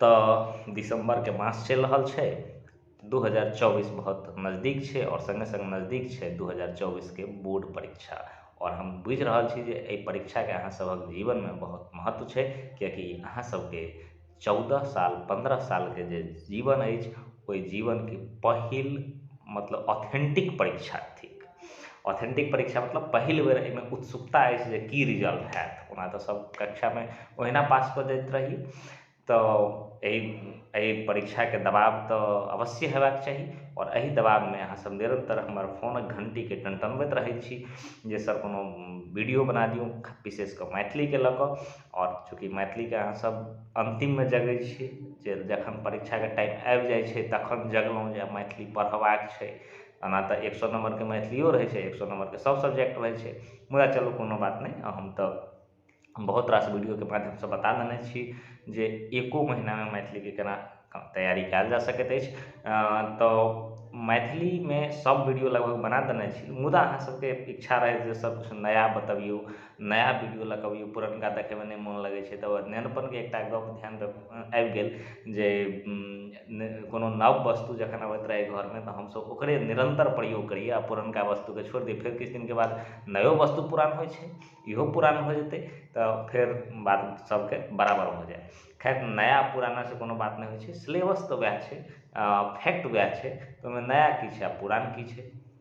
तऽ दिसम्बरके मास चलि रहल छै दू हजार चौबीस बहुत नजदीक छै आओर सङ्गे सङ्ग नजदीक छै दू हजार चौबीसके बोर्ड परीक्षा आओर हम बुझि रहल छी जे एहि परीक्षाके अहाँ सभक जीवनमे बहुत महत्व छै कियाकि अहाँ सभके चौदह साल पन्द्रह सालके जे जीवन अछि ओहि जीवनके पहिल मतलब ऑथेन्टिक परीक्षा थिक ऑथेन्टिक परीक्षा मतलब पहिल बेर एहिमे उत्सुकता अछि जे की रिजल्ट होयत ओना तऽ सभ कक्षामे ओहिना पास कऽ जाइत रही तऽ एहि एहि परीक्षाके दबाव तऽ अवश्ये होयबाक चाही आओर एहि दबावमे अहाँ सभ निरन्तर हमर फोनक घण्टीके टनटनबैत रहैत छी जे सभ कोनो वीडियो बना दियौ विशेष कऽ मैथिलीके लऽ कऽ आओर चूँकि मैथिलीके अहाँ सभ अन्तिममे जगैत छी जे जखन परीक्षाके टाइम आबि जाइत छै तखन जगलहुँ जे आब मैथिली पढ़बाक छै ओना तऽ एक सओ नम्बरके मैथिलिओ रहै छै एक सओ नम्बरके सब सब्जेक्ट रहै छै मुदा चलू कोनो बात नहि हम तऽ बहुत रास वीडियोके माध्यमसँ बता देने छी जे एको महिनामे मैथिलीके कोना तैयारी कएल जा सकैत अछि तऽ मैथिलीमे सब वीडियो लगभग बना देने छी मुदा अहाँसबके इच्छा रहै जे सबकिछु नया बतबिऔ नया वीडिओ लऽ कऽ अबैए पुरनका देखैमे नहि मोन लगै छै तऽ नेनपनके एकटा गप धिआनमे आबि गेल जे कोनो नव वस्तु जखन अबैत रहै घरमे तऽ हमसब ओकरे निरन्तर प्रयोग करिए आओर पुरनका वस्तुके छोड़ि दिए फेर किछु दिनके बाद नयो वस्तु पुरान होइ छै इहो पुरान भऽ जेतै तऽ फेर बात सबके बराबर भऽ जाएत खैर नया पुरानासँ कोनो बात नहि होइ छै सिलेबस तऽ वएह छै फैक्ट वएह छै ओहिमे नया कि छै आओर पुरान कि छै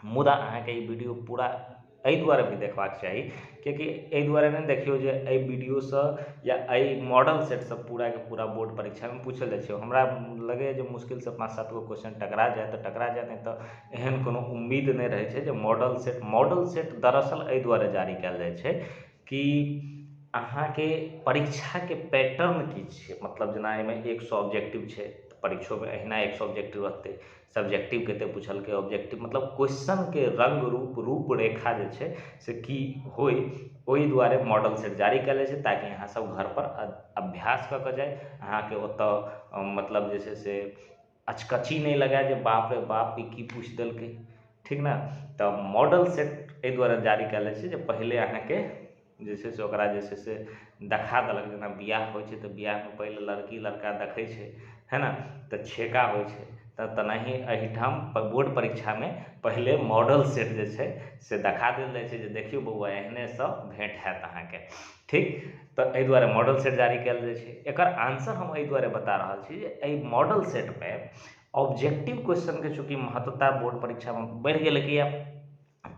मुदा अहाँकेँ ई वीडियो पूरा एहि दुआरे भी देखबाक चाही कियाकि एहि दुआरे नहि देखियौ जे एहि वीडियोसँ या एहि मॉडल सेटसँ पूराके पूरा बोर्ड परीक्षामे पूछल जाइत छै हमरा लगैए जे मुश्किलसँ पाँच सात गो क्वेश्चन टकरा जाय तऽ टकरा जाय नहि तऽ एहन कोनो उम्मीद नहि रहैत छै जे मॉडल सेट मॉडल सेट दरअसल एहि दुआरे जारी कयल जाइत छै कि अहाँके परीक्षाके पैटर्न की छियै मतलब जेना एहिमे एक सए ऑब्जेक्टिव छै परीक्षोमे अहिना एक सए ऑब्जेक्टिव रहतै सब्जेक्टिवके एतेक पुछलकै ऑब्जेक्टिव मतलब क्वेश्चनके रङ्ग रूप रूप रेखा जे छै से की होइ ओहि दुआरे मॉडल सेट जारी कयल जाइ छै ताकि अहाँ सब घर पर अभ्यास कऽ के जाइ अहाँके ओतऽ मतलब जे छै से अचकच्ची नहि लगाय जे बाप रे बाप ई की पूछि देलकै ठीक ने तऽ मॉडल सेट एहि दुआरे जारी कयल जाइ छै जे पहिले अहाँके जे छै से ओकरा जे छै से देखा देलक जेना बिआह होइ छै तऽ बिआहमे पहिले लड़की लड़का देखै छै है ने तऽ छेका होइ छै तऽ तेनाही एहिठाम बोर्ड परीक्षामे पहिले मॉडल सेट जे छै से देखा देल जाइ छै जे देखियौ बौआ एहने सभ भेँट हैत अहाँके ठीक तऽ एहि दुआरे मॉडल सेट जारी कयल जाइ छै एकर आन्सर हम एहि दुआरे बता रहल छी जे एहि मॉडल सेटमे ऑब्जेक्टिव क्वेश्चनके चूँकि महत्वता बोर्ड परीक्षामे बढ़ि गेलै किएक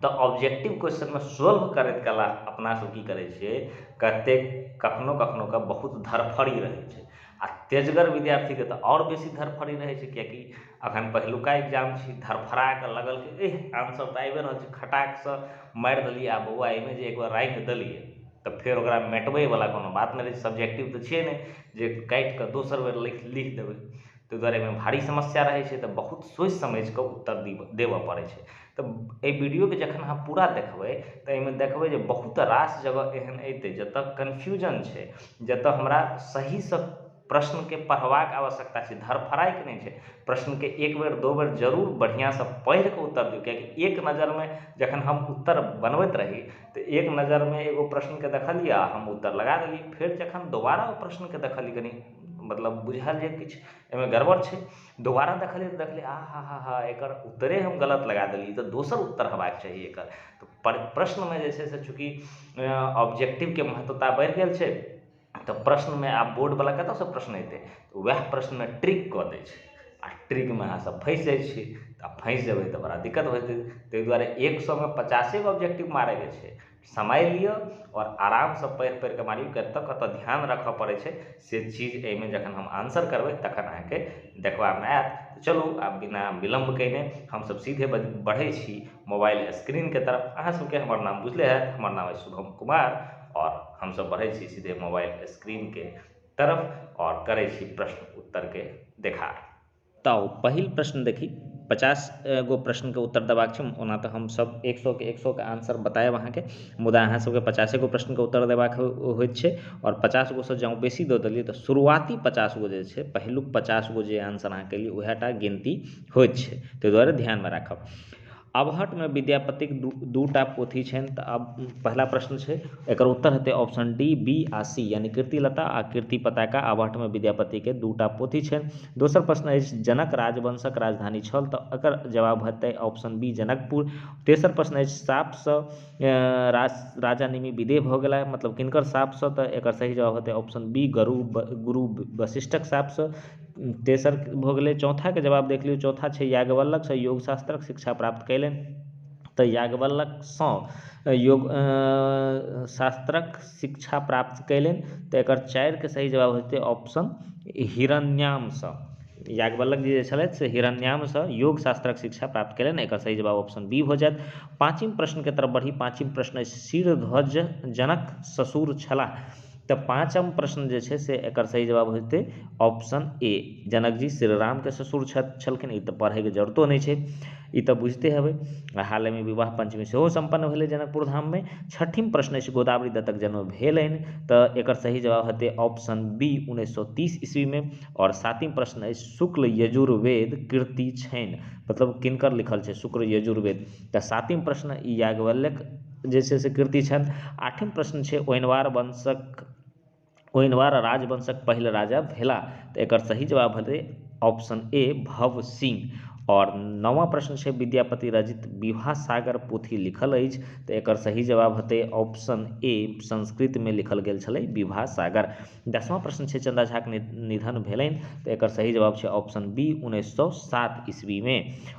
तऽ ऑब्जेक्टिव क्वेश्चनमे सोल्व करैत कला अपनासभ की करैत छियै कतेक कखनो कखनो कऽ बहुत धरफड़ी रहैत छै आ तेजगर विद्यार्थीके तऽ आओर बेसी धरफड़ी रहैत छै कियाकि अखन पहिलुका एक्जाम छी धरफड़ा कऽ लगल कि एह आन्सर तऽ आबिए रहल छै खटाकसँ मारि देलियै आ बौआ एहिमे जे एकबेर राखि देलियै तऽ फेर ओकरा मेटबैवला कोनो बात नहि रहैत छै सब्जेक्टिव तऽ छियै नहि जे काटि कऽ दोसर बेर लिखि लिख देबै ताहि दुआरे एहिमे भारी समस्या रहैत छै तऽ बहुत सोचि समझि कऽ उत्तर देबय पड़ैत छै तऽ एहि वीडियोके जखन अहाँ पूरा देखबै तऽ एहिमे देखबै जे बहुत रास जगह एहन एतै जतऽ कन्फ्यूजन छै जतऽ हमरा सहीसँ प्रश्नके पढ़बाक आवश्यकता छै धरफरायिक नहि छै प्रश्नके एक बेर दू बेर जरूर बढ़िआँसँ पढ़ि कऽ उत्तर दियौ किएकि एक नजरिमे जखन हम उत्तर बनबैत रही तऽ एक नजरिमे एगो प्रश्नके देखलियै आ हम उत्तर लगा देलियै फेर जखन दोबारा ओ प्रश्नके देखलियै कनी मतलब बुझायल जे किछु एहिमे गड़बड़ छै दोबारा देखलियै तऽ देखलियै आ हा हा हा एकर उत्तरे हम गलत लगा देलियै ई तऽ दोसर उत्तर होयबाक चाही एकर तऽ प्रश्नमे जे छै से चूँकि ऑब्जेक्टिवके महत्वता बढ़ि गेल छै तऽ प्रश्नमे आब बोर्डवला कतयसँ प्रश्न अयतै तऽ उएह प्रश्नमे ट्रिक कऽ दैत छै आ ट्रिकमे अहाँसभ फँसि जाइत छियै आ फँसि जेबै तऽ बड़ा दिक्कत होयत ताहि द्वारे एक सएमे पचासे गो ऑब्जेक्टिव मारयके छै समय लिअ आओर आरामसँ पढ़ि पढ़ि कऽ मारियौ कतय कतय ध्यान राखय पड़ैत छै से चीज एहिमे जखन हम आन्सर करबै तखन अहाँकेँ देखबामे आयत चलू आब बिना विलम्ब कयने हमसभ सीधे बढ़ैत छी मोबाइल स्क्रीनके तरफ अहाँसभकेँ हमर नाम बुझले हैत हमर नाम अछि शुभम कुमार आओर हमसभ बढ़ैत छी सीधे मोबाइल स्क्रीनके तरफ आओर करैत छी प्रश्न उत्तरके देखार तऽ पहिल प्रश्न देखी पचास गो प्रश्नके उत्तर देबाक छै ओना तऽ हम सभ एक सए के एक सए के आन्सर बतायब अहाँकेँ मुदा अहाँ सभकेँ पचासे गो प्रश्नके उत्तर देबाक होइत छै आओर पचास गो सँ जँ बेसी दऽ देलियै तऽ शुरुआती पचास गो जे छै पहिलुक पचास गो जे आन्सर अहाँ केलियै उएह टा गिनती होइत छै ताहि दुआरे ध्यानमे राखब अबहट्ठमे विद्यापतिक दू टा पोथी छनि तऽ आब पहिला प्रश्न छै एकर उत्तर हेतै ऑप्शन डी बी आ सी यानि कीर्तिलता आ कीर्ति पताका अबहट्ठमे विद्यापतिके दू टा पोथी छनि दोसर प्रश्न अछि जनक राजवंशक राजधानी छल तऽ एकर जवाब हेतै ऑप्शन बी जनकपुर तेसर प्रश्न अछि शापसँ राजा निमि विदेह भऽ गेला मतलब किनकर शापसँ तऽ एकर सही जवाब हेतै ऑप्शन बी गुरु वशिष्ठक शापसँ तेसर भऽ गेलै चौथाके जवाब देख लियौ चौथा छै याज्ञवल्क्यसँ योग शास्त्रक शिक्षा प्राप्त कयलनि तऽ याज्ञवल्क्यसँ योग शास्त्रक शिक्षा प्राप्त कयलनि तऽ एकर चारिके सही जवाब होयतै ऑप्शन हिरण्यामसँ याज्ञवल्क्य जी जे छलथि से हिरण्यामसँ योग शास्त्रक शिक्षा प्राप्त कयलनि एकर सही जवाब ऑप्शन बी भऽ जायत पाँचिम प्रश्नके तरफ बढ़ी पाँचिम प्रश्न अछि शिरध्वज जनक ससुर छलाह तऽ पाँचम प्रश्न जे छै से एकर सही जवाब होइतै ऑप्शन ए जनक जी श्री रामके ससुर छलखिन ई तऽ पढ़ैके जरूरतो नहि छै ई तऽ बुझिते हेबै आ हालहिमे विवाह पञ्चमी सेहो सम्पन्न भेलै जनकपुर धाममे छठिम प्रश्न अछि गोदावरी दत्तक जन्म भेलनि तऽ एकर सही जवाब हेतै ऑप्शन बी उन्नैस सए तीस ईस्वीमे आओर सातम प्रश्न अछि शुक्ल यजुर्वेद कृति छनि मतलब किनकर लिखल छै शुक्ल यजुर्वेद तऽ सातम प्रश्न ई याज्ञवल्यक जे छै से कृति छनि आठम प्रश्न छै ओनवार वंशक ओनवार राजवंशक पहिल राजा भेला तऽ एकर सही जवाब हेतै ऑप्शन ए भव सिंह आओर नवा प्रश्न छै विद्यापति रचित विवाह सागर पोथी लिखल अछि तऽ एकर सही जवाब हेतै ऑप्शन ए संस्कृतमे लिखल गेल छलै विवाह सागर दसमा प्रश्न छै चन्दा झाक निधन भेलनि तऽ एकर सही जवाब छै ऑप्शन बी उन्नैस सए सात ईस्वी मे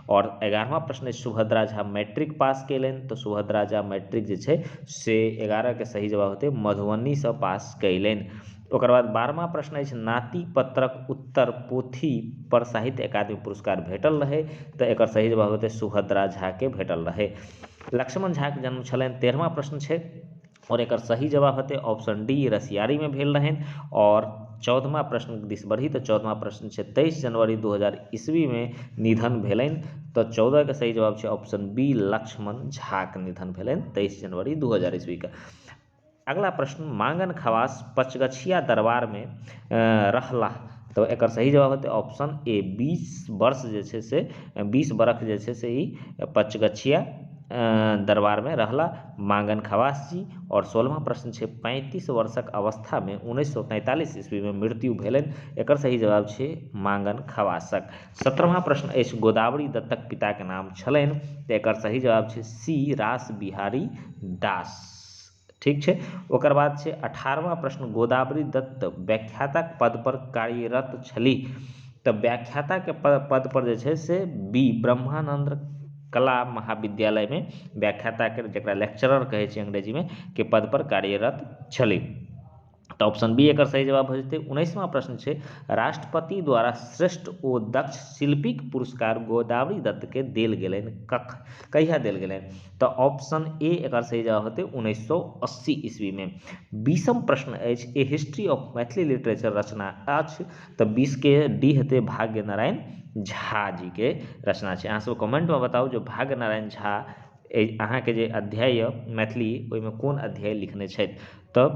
आओर एगारहमा प्रश्न अछि सुभद्रा झा मैट्रिक पास केलनि तऽ सुभद्रा झा मैट्रिक जे छै से एगारह के सही जवाब हेतै मधुबनी से पास कयलनि ओकर बाद बारहमा प्रश्न अछि नाती पत्रक उत्तर पोथी पर साहित्य अकादमी पुरस्कार भेटल रहै तऽ एकर सही जवाब हेतै सुभद्रा झा के भेटल रहै लक्ष्मण झा के जन्म छलनि तेरहमा प्रश्न छै आओर एकर सही जवाब होयतै ऑप्शन डी रसियारीमे भेल रहनि आओर चौदमा प्रश्न दिस बढ़ी तऽ चौदमा प्रश्न छै तेइस जनवरी दू हजार ईस्वीमे निधन भेलनि तऽ चौदहके सही जवाब छै ऑप्शन बी लक्ष्मण झाके निधन भेलनि तेइस जनवरी दू हजार ईस्वीके अगला प्रश्न मांगन खवास पचगछिया दरबारमे रहलाह तऽ एकर सही जवाब हेतै ऑप्शन ए बीस वर्ष जे छै से बीस बरख जे छै से ई पचगछिया दरबारमे रहला माँगन खवास जी आओर सोलहमा प्रश्न छै पैंतीस वर्षक अवस्थामे उन्नैस सए तैंतालिस ईस्वीमे मृत्यु भेलनि एकर सही जवाब छै माँगन खवासक सत्रहमा प्रश्न अछि गोदावरी दत्तक पिताके नाम छलनि तऽ एकर सही जवाब छै सी रास बिहारी दास ठीक छै ओकर बाद छै अठारहमा प्रश्न गोदावरी दत्त व्याख्याताक पद पर कार्यरत छलीह तऽ व्याख्याताके पद पर जे छै से बी ब्रह्मानंद कला महाविद्यालयमे व्याख्याता के जेकरा लेक्चरर कहै छै अंग्रेजीमे के पद पर कार्यरत छलै तऽ ऑप्शन बी एकर सही जवाब भऽ जेतै उन्नैसवां प्रश्न छै राष्ट्रपति द्वारा श्रेष्ठ ओ दक्ष शिल्पीक पुरस्कार गोदावरी दत्त के देल गेलनि कख कहिया देल गेलनि तऽ ऑप्शन ए एकर सही जवाब हेतै उन्नैस सौ अस्सी ईस्वीमे बीसम प्रश्न अछि a history of Maithili literature रचना अछि तऽ बीसके डी हेतै भाग्य नारायण झा जीके रचना छै अहाँ सब कमेन्टमे बताउ जे भाग्य नारायण झा अहाँके जे अध्याय यऽ मैथिली ओहिमे कोन अध्याय लिखने छथि तऽ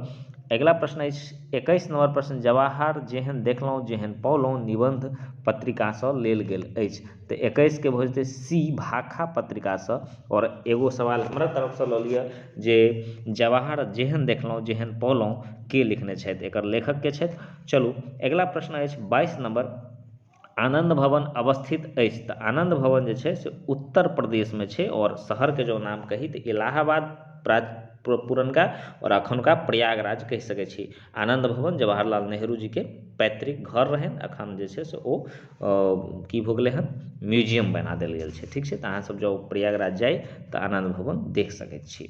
अगिला प्रश्न अछि एकैस नम्बर प्रश्न जवाहर जेहन देखलहुँ जेहन पौलहुँ निबन्ध पत्रिकासँ लेल गेल अछि तऽ एकैसके भऽ जेतै सी भाखा पत्रिकासँ आओर एगो सवाल हमरा तरफसँ लऽ लिअ जे जवाहर जेहन देखलहुँ जेहन पौलहुँ के लिखने छथि एकर लेखक के छथि चलू अगिला प्रश्न अछि बाइस नम्बर आनन्द भवन अवस्थित अछि तऽ आनन्द भवन जे छै से उत्तर प्रदेशमे छै आओर शहरके जँ नाम कही तऽ इलाहाबाद प्रा पुरनका आओर एखुनका प्रयागराज कहि सकै छी आनन्द भवन जवाहर लाल नेहरू जीके पैतृक घर रहनि एखन जे छै से ओ की भऽ गेलै हँ म्यूजियम बना देल गेल छै ठीक छै तऽ अहाँसभ जँ प्रयागराज जाइ तऽ आनन्द भवन देख सकै छी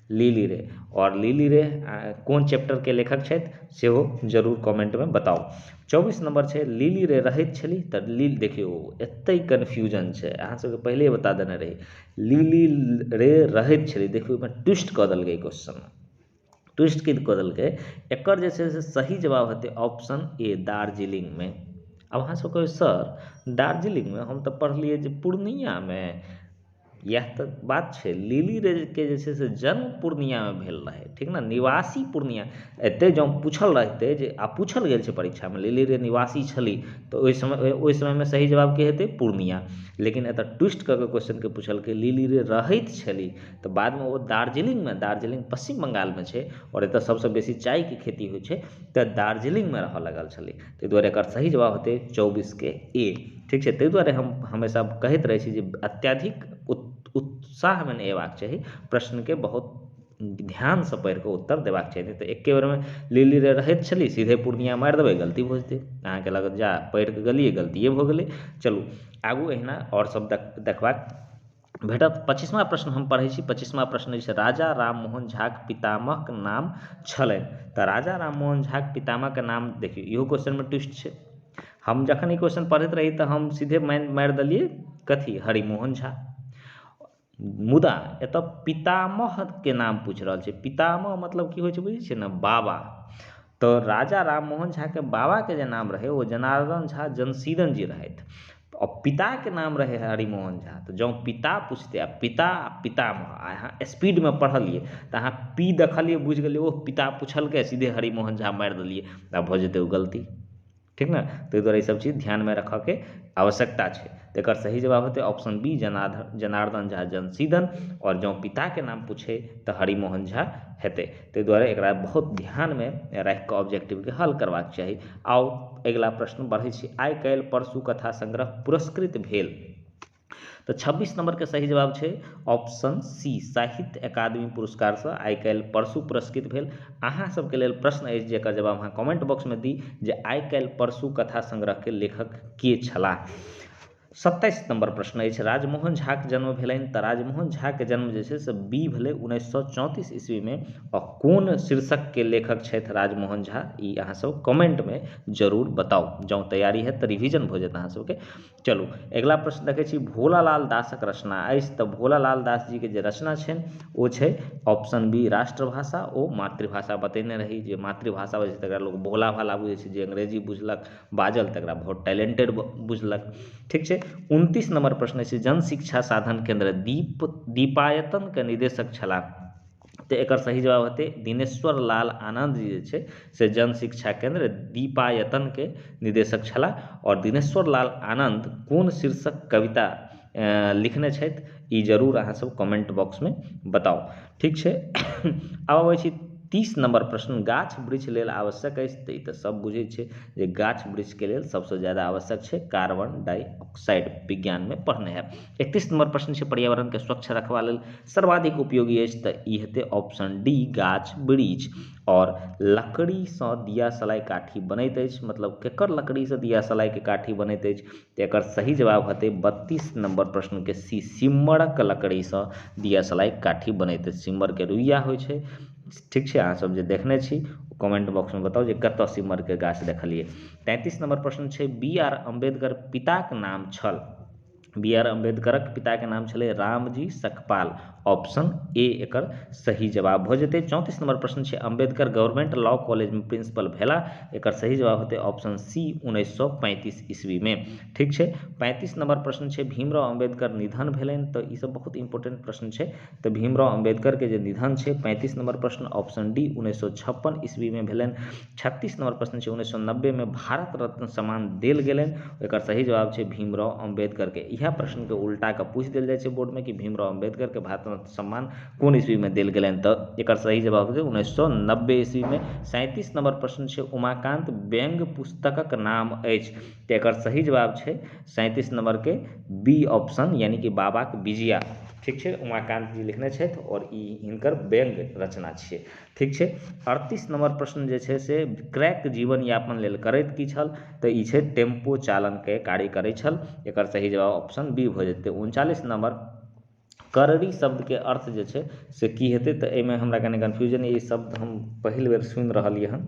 लिली रे आओर लिली रे कोन चैप्टरके लेखक छथि सेहो जरूर कमेन्टमे बताउ चौबीस नम्बर छै लिली रे रहैत छली तऽ लिली देखियौ एतै कन्फ्यूजन छै अहाँ सबके पहिले बता देने रही लिली रे रहैत छली देखियौ ओहिमे ट्विस्ट कऽ देलकै क्वेश्चनमे ट्विस्ट की कऽ देलकै एकर जे छै से सही जवाब हेतै ऑप्शन ए दार्जिलिंगमे आब अहाँ सब कहबै सर दार्जिलिंगमे हम तऽ पढ़लियै जे पूर्णियामे इएह तऽ बात छै लिली रेजके जे छै से जन्म पूर्णियामे भेल रहै ठीक ने निवासी पूर्णिया एतय जँ पूछल रहितै जे आ पूछल गेल छै परीक्षामे लिली रे निवासी छलीह तऽ ओहि समय ओहि समयमे सही जवाब की हेतै पूर्णिया लेकिन एतय ट्विस्ट कऽ कऽ क्वेश्चनकेँ पूछलकै लिली रे रहैत छलीह तऽ बादमे ओ दार्जिलिंगमे दार्जिलिंग पश्चिम बंगालमे छै आओर एतय सभसँ बेसी चायके खेती होइत छै तऽ दार्जिलिंगमे रहय लागल छलीह ताहि दुआरे एकर सही जवाब हेतै चौबीसके ए ठीक छै ताहि दुआरे हम हमेशा कहैत रहैत छी जे अत्यधिक उत्साहमे नहि अयबाक चाही प्रश्नके बहुत ध्यानसँ पढ़ि कऽ उत्तर देबाक चाही नहि तऽ एके बेरमे लिलि रे रहैत छलि सीधे पूर्णिया मारि देबै गलती भऽ जेतै अहाँकेँ लागत जा पढ़ि कऽ गेलियै गलतिए भऽ गेलै चलू आगू अहिना आओर सभ देख देखबाक भेटत पच्चीसमा प्रश्न हम पढ़ैत छी पच्चीसमा प्रश्न अछि राजा राम मोहन झाक पितामहक नाम छलनि तऽ राजा राम मोहन झाक पितामहक नाम देखिऔ इहो क्वेश्चनमे ट्विस्ट छै हम जखन ई क्वेश्चन पढ़ैत रही तऽ हम सीधे माइन मारि देलियै कथी हरि मोहन झा मुदा एतऽ पितामहके नाम पूछि रहल छै पितामह मतलब की होइत छै बुझैत छियै ने बाबा तऽ राजा राम मोहन झाके बाबाके जे नाम रहै ओ जनार्दन झा जनसीदन जी रहथि आ पिताके नाम रहै हरिमोहन झा तऽ जँ पिता पुछतै आ पिता आ पितामह आ अहाँ स्पीडमे पढ़लियै तऽ अहाँ पी देखलियै बुझि गेलियै ओह पिता पुछलकै सीधे हरिमोहन झा मारि देलियै तऽ आब भऽ जेतै ओ गलती ठीक ने ताहि दुआरे ईसभ चीज ध्यानमे रखयके आवश्यकता छै तऽ एकर सही जवाब हेतै ऑप्शन बी जनार्दन जनार्दन झा जनसीदन आओर जँ पिताके नाम पूछय तऽ हरिमोहन झा हेतै ताहि दुआरे एकरा बहुत ध्यानमे राखि कऽ ऑब्जेक्टिवके हल करबाक चाही आउ अगिला प्रश्न बढ़ै छी आइ काल्हि परसू कथा संग्रह पुरस्कृत भेल तऽ छब्बीस नंबरके सही जवाब छै ऑप्शन सी साहित्य अकादमी पुरस्कारसँ आइ काल्हि परसू पुरस्कृत भेल अहाँ सबके लेल प्रश्न अछि जेकर जवाब अहाँ कमेंट बॉक्समे दी जे आइ काल्हि परसू कथा संग्रहके लेखक के छलाह सत्ताइस नम्बर प्रश्न अछि राजमोहन झाक जन्म भेलनि तऽ राजमोहन झाक जन्म जे छै से बी भेलै उन्नैस सए चौंतीस ईस्वीमे आ कोन शीर्षकके लेखक छथि राजमोहन झा ई अहाँ सब कमेन्टमे जरूर बताउ जँ तैयारी होयत तऽ रिविजन भऽ जायत अहाँ सबके चलू अगिला प्रश्न देखैत छी भोला लाल दासक रचना अछि तऽ भोला लाल दास जीके जे रचना छनि ओ छै ऑप्शन बी राष्ट्रभाषा ओ मातृभाषा बतेने रही जे मातृभाषा बजैत छै तकरा लोक भोला भाला बुझैत छै जे अंग्रेजी बुझलक बाजल तकरा बहुत टैलेंटेड बुझलक ठीक छै उनतीस नम्बर प्रश्न अछि जन शिक्षा साधन केन्द्र दीप दीपायतनके निदेशक छलाह तऽ एकर सही जवाब हेतै दिनेश्वर लाल आनन्द जी जे छै से जन शिक्षा केन्द्र दीपायतनके निदेशक छलाह आओर दिनेश्वर लाल आनन्द कोन शीर्षक कविता लिखने छथि ई जरूर अहाँसभ कमेन्ट बॉक्समे बताउ ठीक छै आब अबैत छी तीस नम्बर प्रश्न गाछ वृक्ष लेल आवश्यक अछि तऽ ई तऽ सभ बुझैत छै जे गाछ वृक्षके लेल सभसँ ज्यादा आवश्यक छै कार्बन डाइऑक्साइड विज्ञानमे पढ़ने हैब एकतीस नम्बर प्रश्न छै पर्यावरणके स्वच्छ रखबा लेल सर्वाधिक उपयोगी अछि तऽ ई हेतै ऑप्शन डी गाछ वृक्ष आओर लकड़ीसँ दिया सलाइ काठी बनैत अछि मतलब केकर लकड़ीसँ दिया सलाइके काठी बनैत अछि तऽ एकर सही जवाब हेतै बत्तीस नंबर प्रश्नके सी सिम्मरक लकड़ीसँ दियासलाइ काठी बनैत अछि सिम्मरके रुइया होइ छै ठीक छै अहाँ सब जे देखने छी ओ कमेंट बॉक्समे बताउ जे कतऽ सिम्मरके गाछ देखलियै तैंतीस नंबर प्रश्न छै बी आर अम्बेडकर पिताक नाम छल बी आर अम्बेडकरक पिताके नाम छलै रामजी सकपाल ऑप्शन ए एकर सही जवाब भऽ जेतै चौंतीस नंबर प्रश्न छै अम्बेडकर गवर्नमेंट लॉ कॉलेज में प्रिंसिपल भेला एकर सही जवाब हेतै ऑप्शन सी उन्नैस सए पैंतीस ईस्वी में ठीक छै पैंतीस नंबर प्रश्न छै भीमराव अम्बेडकर निधन भेलनि तऽ ई सब बहुत इंपोर्टेंट प्रश्न छै तऽ भीमराव अम्बेडकर के जे निधन छै पैंतीस नंबर प्रश्न ऑप्शन डी उन्नैस सए छप्पन ईस्वी में भेलनि छत्तीस नम्बर प्रश्न छै उन्नैस सए नब्बेमे भारत रत्न सम्मान देल गेलनि एकर सही जवाब छै भीमराव अम्बेडकरके इएह प्रश्नके उल्टा कऽ पूछि देल जाइत छै बोर्डमे कि भीमराव अम्बेडकरके भारत रत्न सम्मान कोन ईस्वीमे देल गेलनि तऽ एकर सही जवाब छै उन्नैस सए नब्बे ईस्वीमे सैंतीस नम्बर प्रश्न छै उमाकान्त व्यङ्ग पुस्तकक नाम अछि तऽ एकर सही जवाब छै सैंतीस नम्बरके बी ऑप्शन यानि कि बाबाक बिजया ठीक छै उमाकान्त जी लिखने छथि आओर ई हिनकर व्यङ्ग रचना छियै ठीक छै अड़तीस नम्बर प्रश्न जे छै से क्रैक जीवन यापन लेल करैत की छल तऽ ई छै टेम्पो चालनके कार्य करै छल एकर सही जवाब ऑप्शन बी भऽ जेतै उनचालिस नम्बर करड़ी शब्दके अर्थ जे छै से की हेतै तऽ एहिमे हमरा कनि कन्फ्यूजन यए ई शब्द हम पहिल बेर सुनि रहलियै हन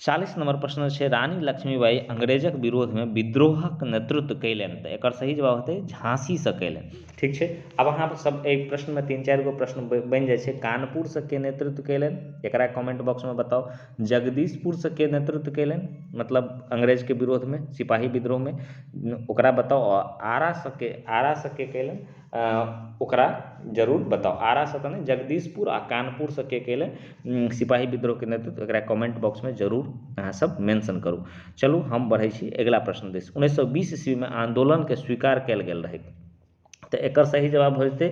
चालीस नम्बर प्रश्न छै रानी लक्ष्मीबाइ अंग्रेजक विरोधमे विद्रोहक नेतृत्व कयलनि तऽ एकर सही जवाब हेतै झाँसीसँ कयलनि ठीक छै आब अहाँ सब एहि प्रश्नमे तीन चारि गो प्रश्न बनि जाइ छै कानपुरसँ के नेतृत्व कयलनि एकरा कमेन्ट बॉक्समे बताउ जगदीशपुरसँ के नेतृत्व कयलनि मतलब अंग्रेजके विरोधमे सिपाही विद्रोहमे ओकरा बताउ आओर आरासँ के आरासँ के कयलनि ओकरा जरूर बताउ आरासँ तऽ नहि जगदीशपुर आ कानपुरसँ के केलय सिपाही विद्रोहके नेतृत्व एकरा कमेन्ट बॉक्समे जरूर अहाँसभ मेन्शन करू चलू हम बढ़ैत छी अगिला प्रश्न दिश उन्नैस सए बीस ईस्वीमे आन्दोलनके स्वीकार कयल गेल रहय तऽ एकर सही जवाब भऽ जेतै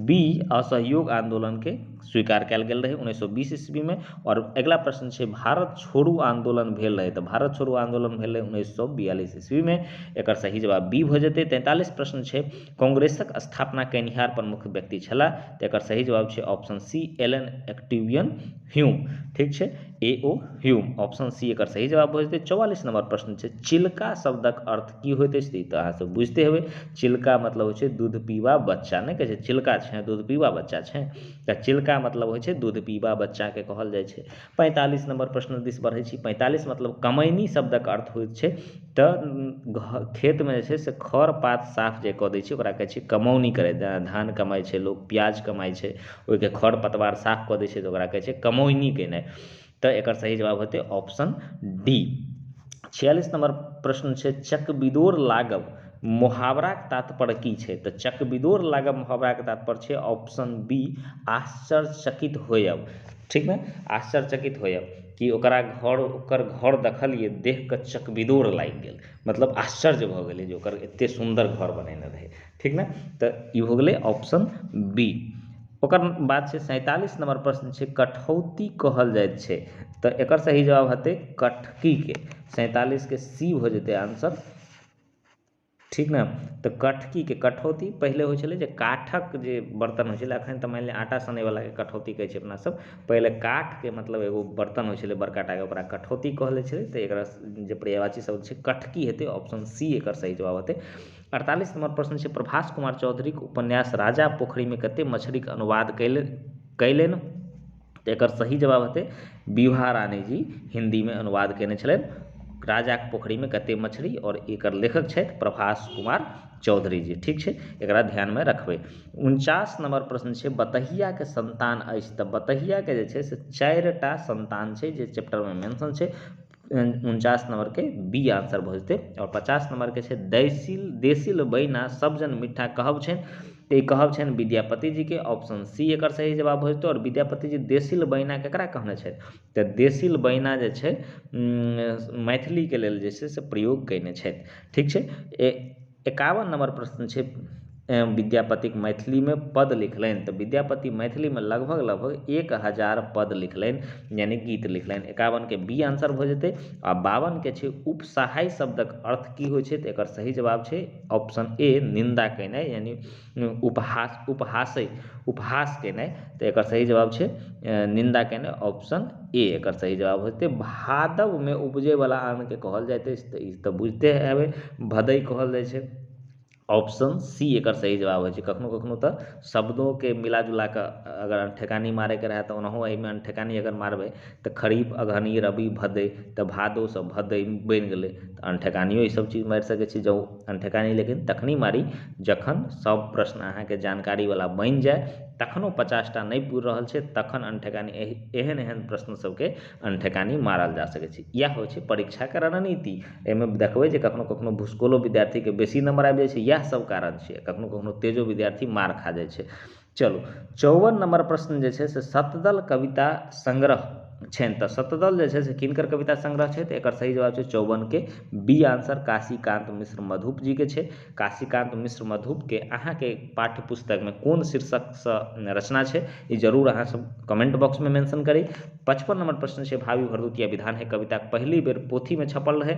बी असहयोग आन्दोलनके स्वीकार कयल गेल रहय उन्नैस सए बीस ईस्वीमे आओर अगिला प्रश्न छै भारत छोड़ू आन्दोलन भेल रहय तऽ भारत छोड़ू आन्दोलन भेल रहय उन्नैस सए बियालिस ईस्वीमे एकर सही जवाब बी भऽ जेतै तैंतालिस प्रश्न छै कांग्रेसक स्थापना केनिहार प्रमुख व्यक्ति छलाह तऽ एकर सही जवाब छै option C Allan Octavian Hume ठीक छै A O Hume option C एकर सही जवाब भऽ जेतै चौवालीस नंबर प्रश्न छै चिलका शब्दक अर्थ की होइत अछि तऽ ई तऽ अहाँसभ बुझिते हेबै चिलका मतलब होइ छै दूध पीबा बच्चा नहि कहै छै चिलका छै दूध पीबा बच्चा छै तऽ चिलका मतलब होइ छै दूध पीबा बच्चाके कहल जाइ छै पैंतालिस नम्बर प्रश्न दिस बढ़ैत छी पैंतालिस मतलब कमैनी शब्दक अर्थ होइत छै तऽ घ खेतमे जे छै से खर पात साफ जे कऽ दै छै ओकरा कहैत छै कमौनी करैत जेना धान कमाइत छै लोक पियाज कमाइत छै ओहिके खर पतवार साफ कऽ दै छै तऽ ओकरा कहैत छै कमौनी कयनाइ तऽ एकर सही जवाब होयतै ऑप्शन डी छियालिस नम्बर प्रश्न छै चकबिदोर लागब मोहावराक तात्पर्य की छै तऽ चकबिदोर लागब मोहावराक तात्पर्य छै ऑप्शन बी आश्चर्यचकित होयब ठीक ने आश्चर्यचकित होयब कि ओकरा घर ओकर घर देखलियै देखि कऽ चकबिदोर लागि गेल मतलब आश्चर्य भऽ गेलै जे ओकर एतेक सुन्दर घर बनेने रहै ठीक ने तऽ ई हो गेलै ऑप्शन बी ओकर बाद छै सैंतालिस नम्बर प्रश्न छै कठौती कहल जाइत छै तऽ एकर सही जवाब हेतै कठकीके सैंतालिसके सी भऽ जेतै आंसर ठीक ने तऽ कठकीके कठौती पहिले होइत छलै जे काठक जे बर्तन होइत छलै अखन तऽ मानि लिअ आटा सनय बलाके कठौती कहैत छियै अपनासब पहिले काठके मतलब एगो बर्तन होइत छलै बड़का टाके ओकरा कठौती कहल जाइत छलै तऽ एकरा जे पर्यायवाची शब्द छै कठकी हेतै ऑप्शन सी एकर सही जवाब हेतै अड़तालीस नम्बर प्रश्न छै प्रभास कुमार चौधरीके उपन्यास राजा पोखरिमे कतेक मछलीके अनुवाद कयलनि तऽ एकर सही जवाब हेतै विभा रानी जी हिन्दीमे अनुवाद कयने छलथि राजाके पोखरिमे कते मछरी आओर एकर लेखक छथि प्रभास कुमार चौधरी जी ठीक छै एकरा ध्यानमे रखबै उनचास नम्बर प्रश्न छै बतहियाके सन्तान अछि तऽ बतहियाके जे छै से चारिटा सन्तान छै जे चैप्टरमे मेंशन छै उनचास नम्बरके बी आन्सर भऽ जेतै आओर पचास नम्बरके छै दैसिल देसिल बैना सब जन मिट्ठा कहब छै तऽ ई कहब छनि विद्यापति जीके ऑप्शन सी एकर सही जवाब भऽ जेतै आओर विद्यापति जी देसिल बैना ककरा कहने छथि तऽ देसिल बैना जे छै मैथिलीके लेल जे छै से प्रयोग कयने छथि ठीक छै एकावन नम्बर प्रश्न छै विद्यापतिक मैथिलीमे पद लिखलनि तऽ विद्यापति मैथिलीमे लगभग लगभग एक हजार पद लिखलनि यानि गीत लिखलनि एकावनके बी आन्सर भऽ जेतै आ बावनके छै उपसहाय शब्दक अर्थ की होइत छै तऽ एकर सही जवाब छै ऑप्शन ए निन्दा कयनाइ यानि उपहास उपहासे उपहास केनाइ तऽ एकर सही जवाब छै निन्दा केनाइ ऑप्शन ए एकर सही जवाब हेतै भादवमे उपजैवला अन्नके कहल जाइत अछि तऽ ई तऽ बुझिते हेबै भदइ कहल जाइत छै ऑप्शन सी एकर सही जवाब होइत छै कखनो कखनो तऽ शब्दोके मिला जुला कऽ अगर अनठेकानी मारैके रहए तऽ ओनाहु एहिमे अनठेकानी अगर मारबै तऽ खरीफ अगहनी रबी भदइ तऽ भादोसँ भदइ बनि गेलै तऽ अनठेकानिओ ईसभ चीज मारि सकैत छी जँ एखन ठेकान नहि लेकिन तखने मारी जखन सब प्रश्न अहाँके जानकारीवला बनि जाइ तखनो पचासटा नहि पुरि रहल छै तखन अनठेकानी एहि एहन एहन प्रश्न सबके अनठेकानी मारल जा सकै छै इएह होइ छै परीक्षाके रणनीति एहिमे देखबै जे कखनो कखनो भुसकौलो विद्यार्थीके बेसी नम्बर आबि जाइ छै इएह सब कारण छिए कखनो कखनो तेजो विद्यार्थी मारि खा जाइ छै चलू चौवन नम्बर प्रश्न जे छै से सतदल कविता संग्रह छनि तऽ सतदल जे छै से किनकर कविता संग्रह छै तऽ एकर सही जवाब छै चौवनके बी आंसर काशीकांत मिश्र मधुप जीके छै काशीकांत मिश्र मधुपके अहाँके पाठ्य पुस्तकमे कोन शीर्षकसँ रचना छै ई जरूर अहाँ सब कमेंट बॉक्समे मेंशन करी पचपन नंबर प्रश्न छै भावी भरदुतिया विधान है कविताक पहिली बेर पोथीमे छपल रहै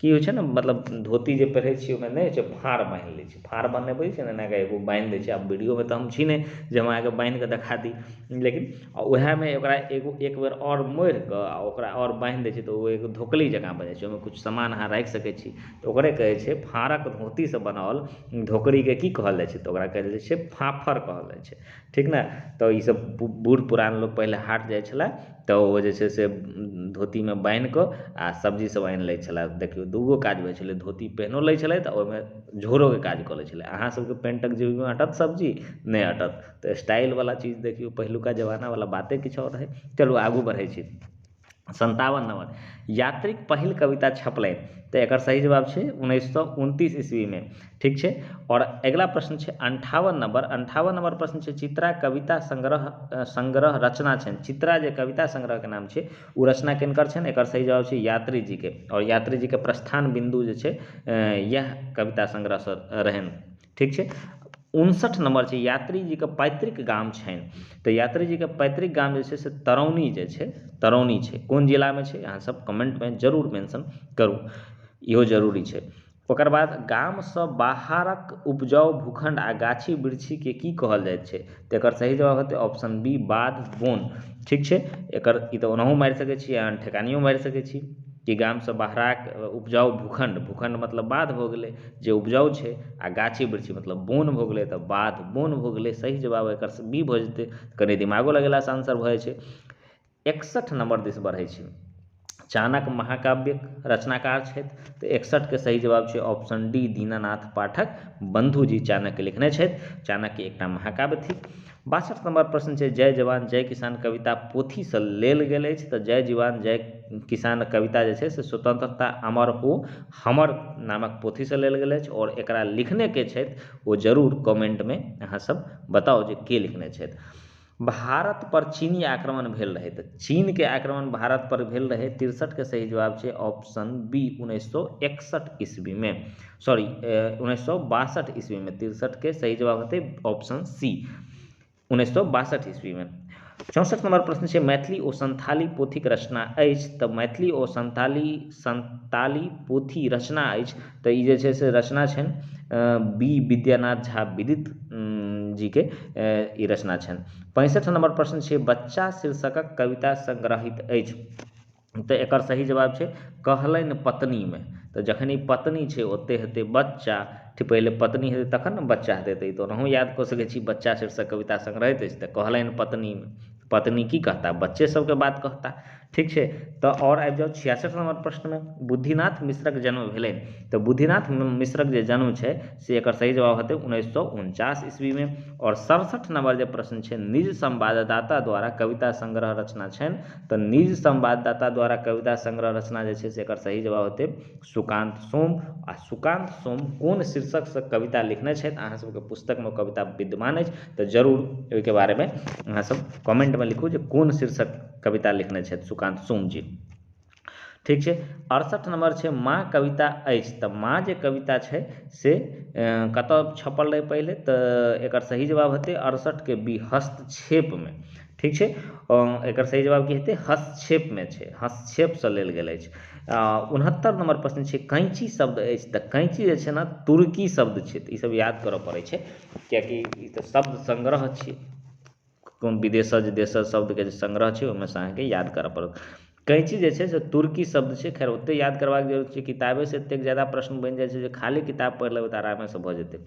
की होइत छै ने मतलब धोती जे पहिरैत छियै ओहिमे नहि होइत छै फाँड़ बान्हि लैत छियै फाँड़ बान्हय पड़ैत छै ने एना कऽ एगो बान्हि दैत छियै आब वीडियोमे तऽ हम छी नहि जे हम अहाँकेँ बान्हि कऽ देखा दी लेकिन उएहमे ओकरा एगो एक बेर आओर मोड़ि कऽ आ ओकरा आओर बान्हि दैत छियै तऽ ओ एगो धोकली जँका भऽ जाइत छै ओहिमे किछु सामान अहाँ राखि सकैत छी तऽ ओकरे कहैत छै फाँड़क धोतीसँ बनाओल धोकड़ीकेँ की कहल जाइत छै तऽ ओकरा कहल जाइत छै फाफड़ कहल जाइत छै ठीक ने तऽ ई सब बूढ़ पुरान लोक पहिले हाट जाइ छलै तऽ ओ जे छै से धोतीमे बान्हि कऽ आओर सब्जी सब आनि लै छलै देखियौ दूगो काज होइ छलै धोती पेन्हियो लै छलै तऽ ओइमे झोरोके काज कऽ लै छलै अहाँ सबके पेन्टक जेबीमे अँटत सब्जी नहि अँटत तऽ स्टाइलवला चीज देखियौ पहिलुका जमानावला बाते किछु आओर रहय चलू आगू बढ़य छी सन्तावन नम्बर यात्रीक पहिल कविता छपलै तऽ एकर सही जवाब छै उन्नैस सए उनतीस ईस्वीमे ठीक छै आओर अगिला प्रश्न छै अनठावन नम्बर अनठावन नम्बर प्रश्न छै चित्रा कविता संग्रह संग्रह रचना छनि चित्रा जे कविता संग्रहके नाम छै ओ रचना किनकर छनि एकर सही जवाब छै यात्री जीके आओर यात्री जीके प्रस्थान बिन्दु जे छै इएह कविता संग्रहसँ रहनि ठीक छै उनसठि नम्बर छै यात्री जीके पैतृक गाम छनि तऽ यात्री जीके पैतृक गाम जे छै से तरौनी जे छै तरौनी छै कोन जिलामे छै अहाँ सब कमेन्टमे जरूर मेन्शन करू इहो जरूरी छै ओकर बाद गामसँ बाहरक उपजाउ भूखण्ड आ गाछी वृक्षीके की कहल जाइत छै तऽ एकर सही जवाब हेतै ऑप्शन बी बाध बौन ठीक छै एकर ई तऽ ओनाहु मारि सकै छी अहाँ ठेकानियो मारि सकै छी कि गामसँ बहराक उपजाउ भूखण्ड भूखण्ड मतलब बाध भऽ गेलै जे उपजाउ छै आओर गाछी वृक्षी मतलब बौन भऽ गेलै तऽ बाध बौन भऽ गेलै सही जवाब एकर बी भऽ जेतै कनी दिमागो लगेलासँ आन्सर भऽ जाइ छै एकसठ नम्बर दिस बढ़ैत छी चाणक्य महाकाव्यिक रचनाकार छथि तऽ एकसठके सही जवाब छै ऑप्शन डी दीनानाथ पाठक बन्धु जी चाणक्य लिखने छथि चाणक्य एकटा महाकाव्य थिक बासठ नम्बर प्रश्न छै जय जवान जय किसान कविता पोथीसँ लेल गेल अछि तऽ जय जवान जय किसान कविता जे छै से स्वतंत्रता अमर हो हमर नामक पोथीसँ लेल गेल अछि आओर एकरा लिखने के छथि ओ जरूर कमेन्टमे अहाँसभ बताउ जे के लिखने छथि भारत पर चीनी आक्रमण भेल रहै तऽ चीन के आक्रमण भारत पर भेल रहै तिरसठ के सही जवाब छै ऑप्शन बी उन्नैस सौ एकसठ ईस्वी में सॉरी उन्नैस सौ बासठ ईस्वी में तिरसठ के सही जवाब होते ऑप्शन सी उन्नैस सौ बासठ ईस्वी में चौंसठ नंबर प्रश्न छै मैथिली ओ संथाली पोथीक रचना अछि तऽ मैथिली ओ संथाली संताली पोथी रचना अछि तऽ ई जे छै से रचना छनि बी विद्यानाथ झा विदित जी के ई रचना छनि पैंसठि नम्बर प्रश्न छै बच्चा शीर्षकक कविता संग्रहीत अछि तऽ एकर सही जवाब छै कहलनि पत्नीमे तऽ जखन ई पत्नी छै ओतय हेतै बच्चा ठीक पहिले पत्नी हेतै तखन ने बच्चा हेतै तऽ ई तऽ ओनाहु याद कऽ सकै छी बच्चा शीर्षक कविता संग्रहीत अछि तऽ कहलनि पत्नीमे पत्नी की कहता बच्चे सबके बात कहता ठीक छै तऽ आओर आबि जाउ छियासठि नम्बर प्रश्नमे बुद्धिनाथ मिश्रक जन्म भेलै तऽ बुद्धिनाथ मिश्रक जे जन्म छै से एकर सही जवाब हेतै उन्नैस सए उनचास ईस्वीमे आओर सड़सठि नम्बर जे प्रश्न छै निज संवाददाता द्वारा कविता संग्रह रचना छनि तऽ निज संवाददाता द्वारा कविता संग्रह रचना जे छै से एकर सही जवाब हेतै सुकांत सोम आ सुकांत सोम कोन शीर्षकसँ कविता लिखने छथि अहाँ सबके पुस्तकमे कविता विद्यमान अछि तऽ जरूर ओहिके बारेमे अहाँ सब कमेन्टमे लिखू जे कोन शीर्षक कविता लिखने छथि सुकान्त सोम जी ठीक छै अड़सठ नम्बर छै माँ कविता अछि तऽ माँ जे कविता छै से कतऽ छपल रहै पहिले तऽ एकर सही जवाब हेतै अड़सठके बी हस्तक्षेपमे ठीक छै एकर सही जवाब की हेतै हस्तक्षेपमे छै हस्तक्षेपसँ लेल गेल अछि उनहत्तर नम्बर प्रश्न छै कैंची शब्द अछि तऽ कैंची जे छै ने तुर्की शब्द छै तऽ ई सब याद करऽ पड़ै छै किएकि ई तऽ शब्द संग्रह छी कोनो विदेशज देशज शब्दके जे संग्रह छै ओहिमे से अहाँके याद करऽ पड़त कैंची जे छै से तुर्की शब्द छै खैर ओतेक याद करबाके जरूरत छै किताबे से एतेक जादा प्रश्न बनि जाइ छै जे खाली किताब पढ़ि लेबै तऽ आरामे से भऽ जेतै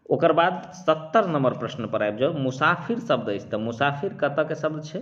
ओकर बाद सत्तर नम्बर प्रश्न पर आबि जाउ मुसाफिर शब्द अछि तऽ मुसाफिर कतऽ के शब्द छै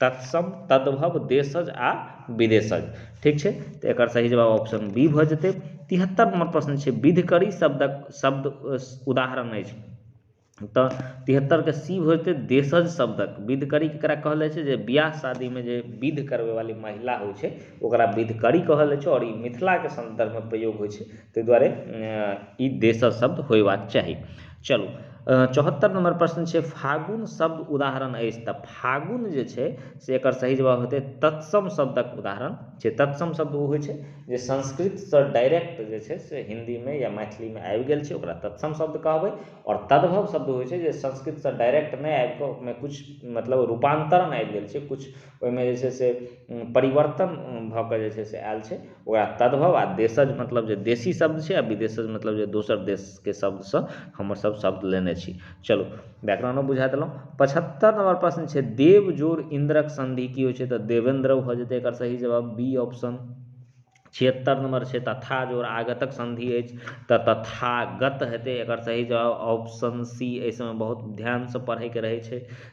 तत्सम तद्भव देशज आ विदेशज ठीक छै तऽ एकर सही जवाब ऑप्शन बी भऽ जेतै तिहत्तर नंबर प्रश्न छै विधकरी शब्दक शब्द उदाहरण अछि तऽ तिहत्तरके सी भऽ जेतै देशज शब्दक विधकरी केकरा कहल जाइ छै जे बियाह शादीमे जे विध करबै वाली महिला होइ छै ओकरा विधकरी कहल जाइ छै आओर ई मिथिलाके संदर्भमे प्रयोग होइ छै ताहि दुआरे ई देशज शब्द होयबाक चाही चलू चौहत्तर नम्बर प्रश्न छै फागुन शब्द उदाहरण अछि तऽ फागुन जे छै से एकर सही जवाब हेतै तत्सम शब्दक उदाहरण छै तत्सम शब्द ओ होइ छै जे संस्कृतसँ डायरेक्ट जे छै से हिन्दीमे या मैथिलीमे आबि गेल छै ओकरा तत्सम शब्द कहबै आओर तद्भव शब्द होइ छै जे संस्कृतसँ डायरेक्ट नहि आबि कऽ ओहिमे किछु मतलब रूपान्तरण आबि गेल छै किछु ओहिमे जे छै से परिवर्तन भऽ कऽ जे छै से आयल छै ओकरा तद्भव आ देशज मतलब जे देशी शब्द छै आ विदेशज मतलब जे दोसर देशके शब्दसँ हमरसभ शब्द लेने छी चलू व्याकरणो बुझा देलहुँ पचहत्तरि नम्बर प्रश्न छै देव जोड़ इन्द्रक सन्धि की होइ छै तऽ देवेन्द्र भऽ जेतै एकर सही जवाब बी ऑप्शन छिहत्तर नम्बर छै तथा जोड़ आगतक सन्धि अछि तऽ तथागत हेतै एकर सही जवाब ऑप्शन सी एहि सभमे बहुत ध्यानसँ पढ़यके रहै छै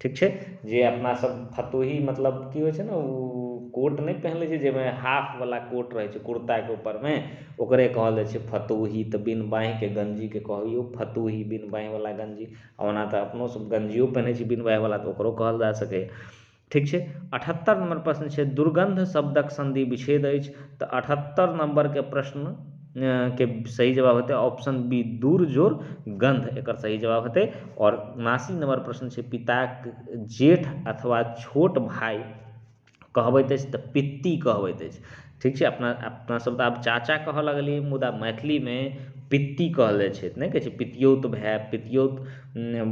ठीक छै जे अपना सब फतोही मतलब की होइ छै ने ओ कोट नहि पहिन लै छै जाहिमे हाफ वाला कोट रहै छै कुर्ता के ऊपर मे ओकरे कहल जाइ छै फतोही तऽ बिन बाँहि के गंजी के कहल यौ फतोही बिन बाँहि वाला गंजी ओना तऽ अपनो सब गंजियो पहिनै छी बिन बाँहि वाला तऽ ओकरो कहल जा सकैए ठीक छै अठहत्तर नंबर प्रश्न छै दुर्गंध शब्दक संधि विच्छेद अछि तऽ अठहत्तर नंबर के प्रश्न के सही जवाब हेतै ऑप्शन बी दूर जोड़ गन्ध एकर सही जवाब हेतै आओर उनासी नंबर प्रश्न छै पिताक जेठ अथवा छोट भाय कहबैत अछि तऽ पित्ती कहबैत अछि ठीक छै अपना अपना सब तऽ आब चाचा कहऽ लगलियै मुदा मैथिलीमे पित्ती कहल जाइ छै नहि कहै छै पितियौत भाय पितियौत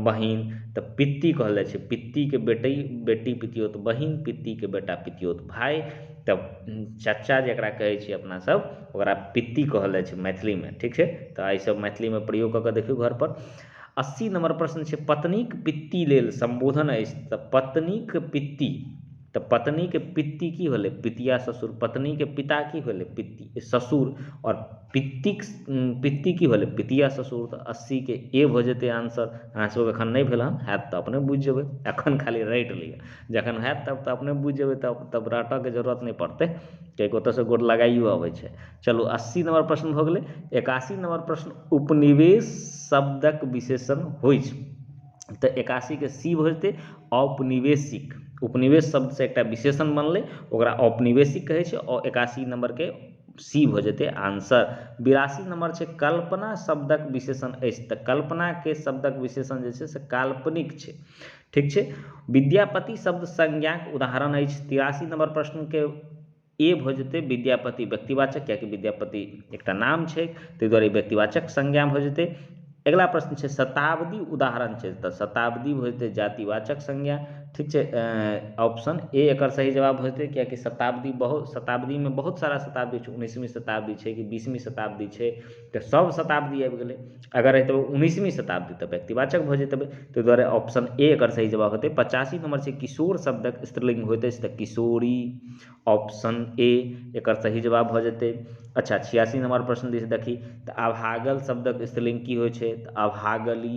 बहिन तऽ पित्ती कहल जाइ छै पित्तीके बेटी बेटी पितियौत बहिन पित्तीके बेटा पितियौत भाय तऽ चाचा जकरा कहै छियै अपना सब ओकरा पित्ती कहल जाइ छै मैथिलीमे ठीक छै तऽ एहि सब मैथिलीमे प्रयोग कऽ कऽ देखियौ घर पर अस्सी नम्बर प्रश्न छै पत्नीक पित्ती लेल सम्बोधन अछि तऽ पत्नीक पित्ती तऽ पत्नीके पित्ती की भेलै पितिया ससुर पत्नीके पिता की भेलै पित्ती ससुर आओर पित्तीक पित्ती की भेलै पितिया ससुर तऽ अस्सीके ए भऽ जेतै आन्सर अहाँ सबके एखन नहि भेल हन होयत तऽ अपने बुझि जेबै एखन खाली रटि लिअ जखन होयत तब तऽ अपने बुझि जेबै तब तब रटयके जरूरत नहि पड़तै किएकि ओतयसँ गोर लगाइयो अबै छै चलू अस्सी नम्बर प्रश्न भऽ गेलै एकासी नम्बर प्रश्न उपनिवेश शब्दक विशेषण होइ छै तऽ एकासीके सी भऽ जेतै औपनिवेशिक उपनिवेश शब्दसँ एकटा विशेषण बनलै ओकरा औपनिवेशिक कहै छै आओर एकासी नम्बरके सी भऽ जेतै आंसर बिरासी नम्बर छै कल्पना शब्दक विशेषण अछि तऽ कल्पनाके शब्दक विशेषण जे छै से काल्पनिक छै ठीक छै विद्यापति शब्द संज्ञाक उदाहरण अछि तिरासी नंबर प्रश्न के ए भऽ जेतै विद्यापति व्यक्तिवाचक कियाकि विद्यापति एकटा नाम छै ताहि दुआरे व्यक्तिवाचक संज्ञा भऽ जेतै अगिला प्रश्न छै शताब्दी उदाहरण छै तऽ शताब्दी भऽ जेतै जातिवाचक संज्ञा ठीक छै ऑप्शन ए एकर सही जवाब भऽ जेतै कियाकि शताब्दी बहुत शताब्दीमे बहुत सारा शताब्दी छै उन्नैसवीं शताब्दी छै कि बीसवीं शताब्दी छै तऽ सभ शताब्दी आबि गेलै अगर रहितै उन्नैसवीं शताब्दी तऽ व्यक्तिवाचक भऽ जयतै ताहि दुआरे ऑप्शन ए एकर सही जवाब होयतै पचासी नम्बर छै किशोर शब्दक स्त्रीलिङ्ग होयत अछि तऽ किशोरी ऑप्शन ए एकर सही जवाब भऽ जयतै अच्छा छिआसी नम्बर प्रश्न दिश देखी तऽ अभागल शब्दक स्त्रीलिङ्ग की होइत छै तऽ अभागलि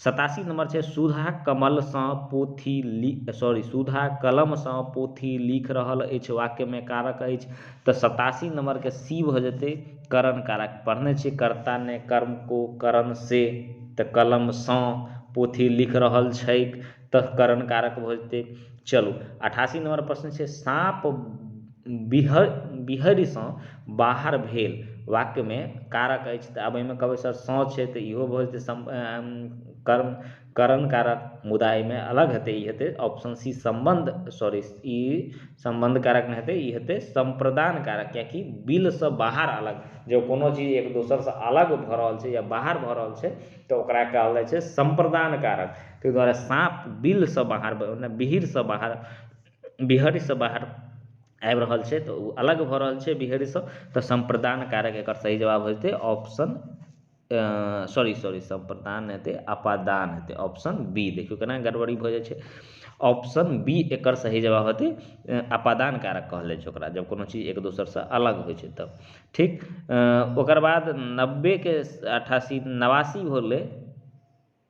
सतासी नम्बर छै सुधा कमलसँ पोथी लि सॉरी सुधा कलमसँ पोथी लिख रहल अछि वाक्यमे कारक अछि तऽ सतासी नम्बरके सी भऽ जेतै करण कारक पढ़ने छियै कर्ता ने कर्म को करण से तऽ कलमसँ पोथी लिख रहल छैक तऽ करण कारक भऽ जेतै चलू अठासी नम्बर प्रश्न छै साँप बिहड़ि बिहड़िसँ बाहर भेल वाक्यमे कारक अछि तऽ आब एहिमे कहबै सर सँ छै तऽ इहो भऽ जेतै सम कर्म करण कारक मुदा एहिमे अलग हेतै ई हेतै ऑप्शन सी सम्बन्ध सॉरी ई सम्बन्ध कारक नहि हेतै ई हेतै सम्प्रदान कारक कियाकि बिलसँ बाहर अलग जँ कोनो चीज एक दोसरसँ अलग भऽ रहल छै या बाहर भऽ रहल छै तऽ ओकरा कहल जाइ छै सम्प्रदान कारक ताहि दुआरे साँप बिलसँ बाहर भेल ओना बिहड़िसँ बाहर बिहड़िसँ बाहर आबि रहल छै तऽ ओ अलग भऽ रहल छै बिहड़िसँ तऽ सम्प्रदान कारक एकर सही जवाब हेतै ऑप्शन सॉरी सॉरी सम्प्रदान नहि हेतै अपादान हेतै ऑप्शन बी देखियौ केना गड़बड़ी भऽ जाइ छै ऑप्शन बी एकर सही जवाब हेतै अ, अपादान कारक कहल जाइ छै ओकरा जब कोनो चीज एक दोसरसँ अलग होइ छै तब ठीक अ, ओकर बाद नब्बेके अठासी नवासी होलै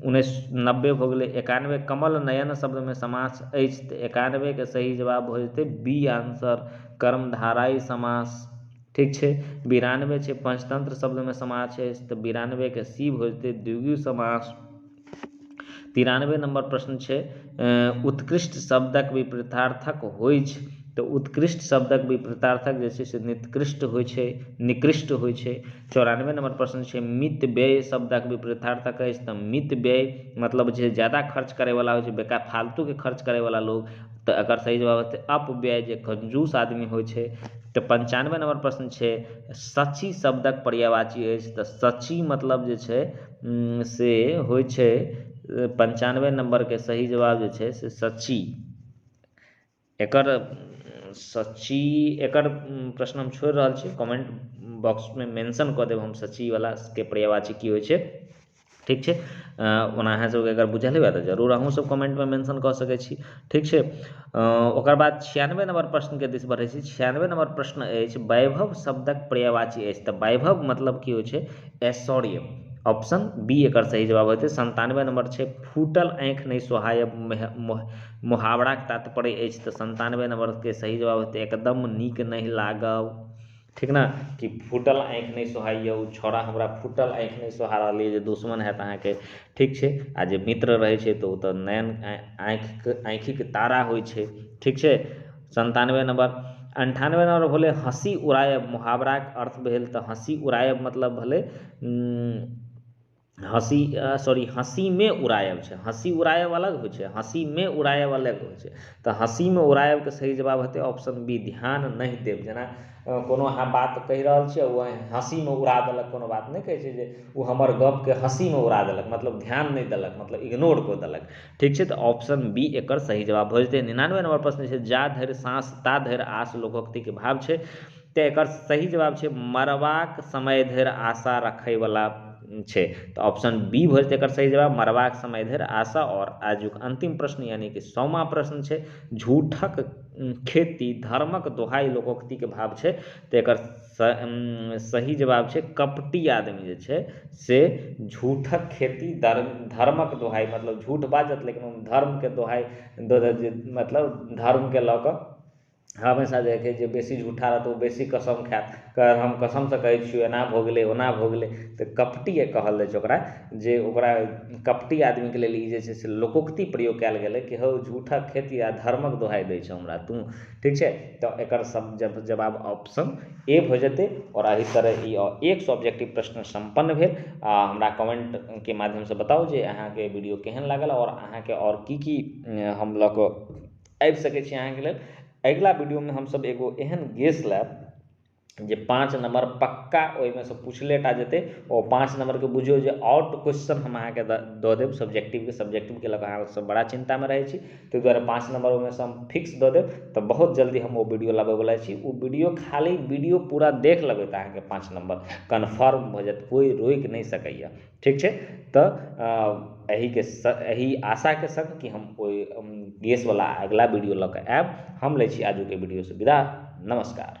उन्नैस नब्बे भऽ गेलै एकानबे कमल नयन शब्दमे समास अछि तऽ एकानबेके सही जवाब भऽ जेतै बी आंसर कर्मधाराई समास ठीक छै बिरानबे छै पंचतंत्र शब्दमे समास छै तऽ बिरानबेके सी भऽ जेतै द्विगु समास तिरानबे नंबर प्रश्न छै उत्कृष्ट शब्दक विपरीतार्थक होइछ तऽ उत्कृष्ट शब्दक विपरीतार्थक जे छै से निकृष्ट होइ छै निकृष्ट होइ छै चौरानबे नम्बर प्रश्न छै मित व्यय शब्दक विपरीतार्थक अछि तऽ मित व्यय मतलब जे ज्यादा खर्च करयवला होइ छै बेकार फालतूके खर्च करयवला लोक तऽ एकर सही जवाब हेतै अपव्यय जे कंजूस आदमी होइ छै तऽ पञ्चानबे नम्बर प्रश्न छै शची शब्दक पर्यायवाची अछि तऽ शची मतलब जे छै से होइ छै पञ्चानबे नम्बरके सही जवाब जे छै से शची एकर सच्ची एकर प्रश्न हम छोड़ि रहल छी कमेन्ट बॉक्समे मेंशन कऽ देब हम सच्चीवलाके पर्यायवाची की होइ छै ठीक छै ओना अहाँसभके अगर बुझल हुए तऽ जरूर अहूँसभ कमेन्टमे मेंशन कऽ सकै छी ठीक छै ओकर बाद छियानबे नम्बर प्रश्नके दिस बढ़ै छी छियानबे नम्बर प्रश्न अछि वैभव शब्दक पर्यायवाची अछि तऽ वैभव मतलब की होइ छै ऐश्वर्य ऑप्शन बी एकर सही जवाब हेतै सन्तानबे नम्बर छै फूटल आँखि नहि सोहाय मोह मुहावराके तात्पर्य अछि तऽ सन्तानबे नम्बरके सही जवाब हेतै एकदम नीक नहि लागब ठीक ने कि फूटल आँखि नहि सोहाइए ओ छौड़ा हमरा फूटल आँखि नहि सोहा रहल अइ जे दुश्मन हैत अहाँके ठीक छै आओर जे मित्र रहै छै तऽ ओ तऽ नैन आँखिके आँखिके तारा होइ छै ठीक छै सन्तानबे नम्बर अनठानबे नम्बर भेलै हँसी उड़ाएब मुहावराके अर्थ भेल तऽ हँसी उड़ाएब मतलब भेलै हँसी सॉरी हँसीमे उड़ाएब छै हँसी उड़ाएब अलग होइत छै हँसीमे उड़ाएब अलग होइत छै तऽ हँसीमे उड़ाएबके सही जवाब हेतै ऑप्शन बी ध्यान नहि देब जेना कोनो अहाँ बात कहि रहल छी ओ हँसीमे उड़ा देलक कोनो बात नहि कहैत छै जे ओ हमर गपके हँसीमे उड़ा देलक मतलब ध्यान नहि देलक मतलब इग्नोर कऽ देलक ठीक छै तऽ ऑप्शन बी एकर सही जवाब भऽ जेतै निनानबे नम्बर प्रश्न छै जा धरि साँस ता धरि आस लोकोक्तिके भाव छै तैं एकर सही जवाब छै मरबाक समय धरि आशा रखैवला छै तऽ ऑप्शन बी भऽ जेतै एकर सही जवाब मरबाक समय धरि आशा आओर आजुक अन्तिम प्रश्न यानि कि सौमा प्रश्न छै झूठक खेती धर्मक दोहाइ लोकोक्तिके भाव छै तऽ एकर सही जवाब छै कपटी आदमी जे छै से झूठक खेती धर्मक दोहाइ मतलब झूठ बाजत लेकिन धर्मके दोहाइ मतलब धर्मके लऽ कऽ हमेशा जे छै से बेसी झूठा रहत ओ बेसी कसम खायत कहत हम कसमसँ कहैत छी एना भऽ गेलै ओना भऽ गेलै तऽ कपटी कहल जाइत छै ओकरा जे ओकरा कपटी आदमीके लेल ई जे छै से लोकोक्ति प्रयोग कयल गेलै कि हौ झूठक खेती आ धर्मक दोहाइ दैत छेँ हमरा तू ठीक छै तऽ एकर सभ जवाब ऑप्शन ए भऽ जेतै आओर एहि तरहे ई एक सब्जेक्टिव प्रश्न सम्पन्न भेल आ हमरा कमेन्टके माध्यमसँ बताउ जे अहाँकेँ वीडियो केहन लागल आओर अहाँकेँ आओर की की हम लऽ कऽ आबि सकैत छी अहाँके लेल अगिला वीडियोमे हमसभ एगो एहन गेस लायब जे पाँच नम्बर पक्का ओहिमेसँ पुछले टा जेतै ओ पाँच नम्बरके बुझियौ जे आउट क्वेश्चन हम अहाँकेँ दऽ देब सब्जेक्टिवके सब्जेक्टिवके लऽ कऽ अहाँसभ बड़ा चिन्तामे रहैत छी ताहि द्वारे पाँच नम्बर ओहिमेसँ हम फिक्स दऽ देब तऽ बहुत जल्दी हम ओ वीडियो लाबयवला छी ओ वीडियो खाली वीडियो पूरा देख लेबै तऽ अहाँके पाँच नम्बर कन्फर्म भऽ जायत कोइ रोकि नहि सकैए ठीक छै तऽ एहिके सङ्ग एहि आशाके सङ्ग कि हम कोइ गैसवला अगिला वीडियो लऽ कऽ आयब हम लै छी आजुके वीडियोसँ विदा नमस्कार